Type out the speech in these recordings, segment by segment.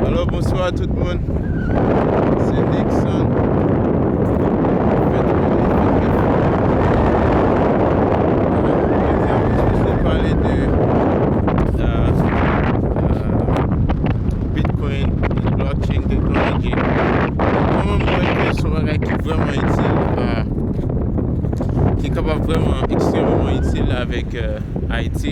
Alo bonswa tout moun Se Nixon pale de Bitcoin and blockchain technology Koman mwen ke son bagay ki vreman itil Ki kapab vreman ekstrememan itil avèk Ayiti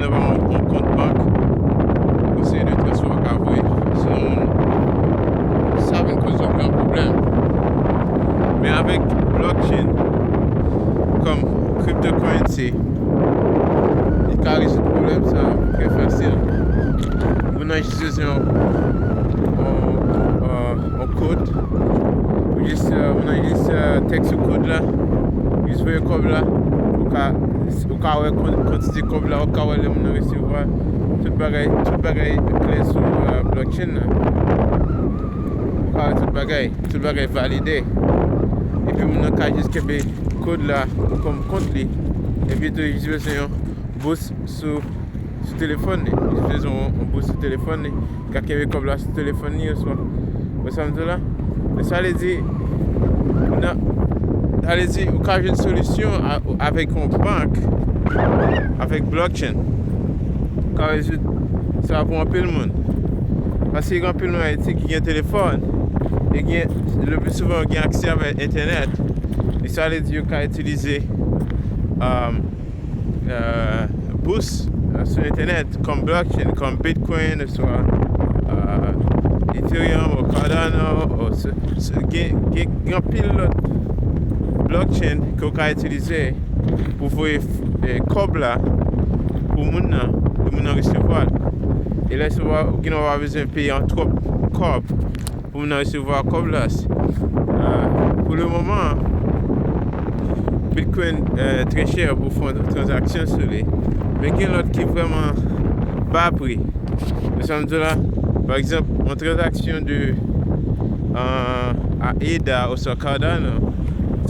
Devan yon kont bank, yon seri de transfè ou ka voye sou non moun, sa vin koz yon gran pwoblèm. Men avèk blockchain kòm cryptocurrency, li ka rezoud pwoblèm sa yo trè fasil. Moun nan jis bezwen yon kod, moun nan jis tèks yon kod la, jis voye kòb la, ou ka. Ou ka wè kantite kòb la, ou ka wè lè moun nan resevwa l. Tout bagay, tout bagay klè sou blockchain nan. Ou ka wè tout bagay, tout bagay valide. Epi moun nan ka jis kenbe kòd la pou kòm kont li. Epi tou li jis bezwen yon bous sou sou telefòn li. Li jis bezwen yon bous sou telefòn li. Li ka kenbe kòb la sou telefòn li oswa. Ou wè sa m di w la? Men sa vle di, nan, sa vle di ou ka jwenn solisyon avèk yon bank, avèk blockchain. Ou ka rezoud sa pou anpil moun. Paske gen anpil moun Ayiti ki gen telefòn e gen, le pli souvan yo gen aksè avèk entènèt. E sa vle di yo ka itilize, um. bous sou entènèt kòm blockchain, kòm bitcoin oswa ethereum ou cardano gen anpil lòt blockchain ke ou ka itilize pou voye kòb la pou moun nan pou moun nan resevwa l e lè sa ou gen ou pa bezwen peye an twòp kòb. Pou m nan resevwa kòb la. Pou le moman an, Bitcoin trè chè pou fè tranzaksyon sou li. Men gen lòt ki vrèman ba pri. Ou sa m di w la? Pa egzanp, yon tranzaksyon de ADA oswa Cardano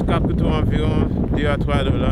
ka koute w anviwon 2 a 3 dola.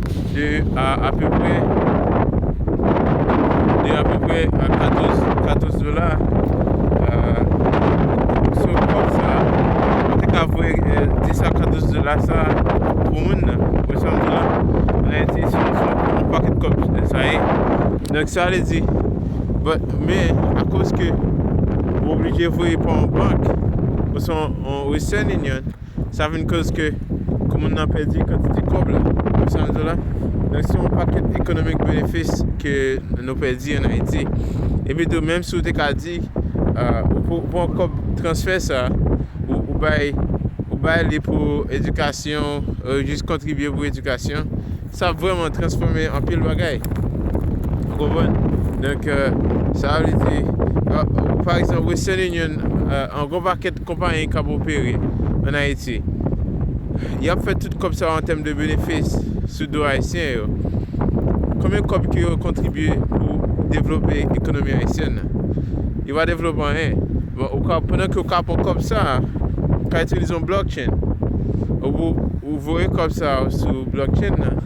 De apeprè 14 dola sou kòb sa a, ou te ka voye 10 a 14 dola sa a pou moun nan. Ou wè sa m di la? An Ayiti, se yon pakèt kòb sa ye. Donk sa vle di, men akoz ke ou oblije voye pa yon bank oswa yon western union. sa vin koz ke komin nan pèdi kantite kòb la. Ou sa m di w la? Donk se yon pakèt ekonomik benefis ke nou pèdi an Ayiti. Epi tou menm si w te ka di ou pran kòb transfè sa ou bay ou bay li pou edikasyon, jis kontribye pou edikasyon, sa ap vrèman transfòme anpil bagay. Ou konprann? Donk sa vle di pa egzanp Western Union an gwo pakèt. Konpayi k ap opere an Ayiti, y ap fè tout kòb sa yo an tèm de benefis sou do Ayisyen yo. Konbyen kòb ke yo kontribye pou devlope ekonomi Ayisyèn nan? Yo pa devlope anyen. Bon, ou ka, pandan ke ou ka pran kòb sa a, ou ka itilize yon blockchain. Ou pou, ou voye kòb sa yo sou blockchain nan,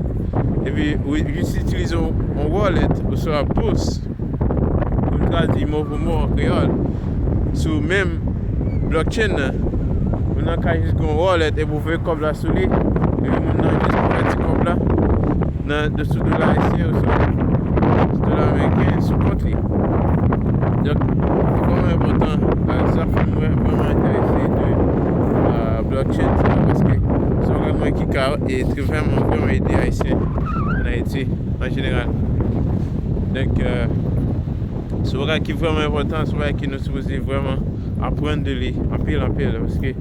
epi ou jis itilize yon wallet oswa bous. Pou m tradui mo pou mo an kreyòl, sou menm blockchain nan, moun nan ka jis gen yon wallet epi ou voye kòb la sou li, epi moun nan jis konvèti kòb la nan sou dola ayisyen oswa sou dola ameriken sou kont li. Donk, li vrèman enpòtan, sa fè m vrèman enterese de blockchain sa paske se yon bagay ki ka vrèman vrèman ede Ayisyen an Ayiti. Jeneral, donk se yon bagay ki vrèman enpòtan, se yon bagay ke nou sipoze vrèman aprann de li anpil anpil paske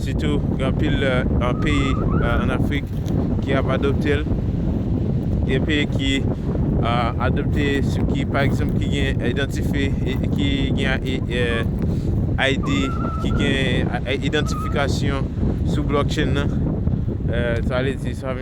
sitou gen anpil peyi an Afrik ki ap adopte l, gen peyi ki adopte ki pa egzanp ki gen idantife ki gen ID ki gen idantifikasyon sou blòkchenn nan sa vle di sa.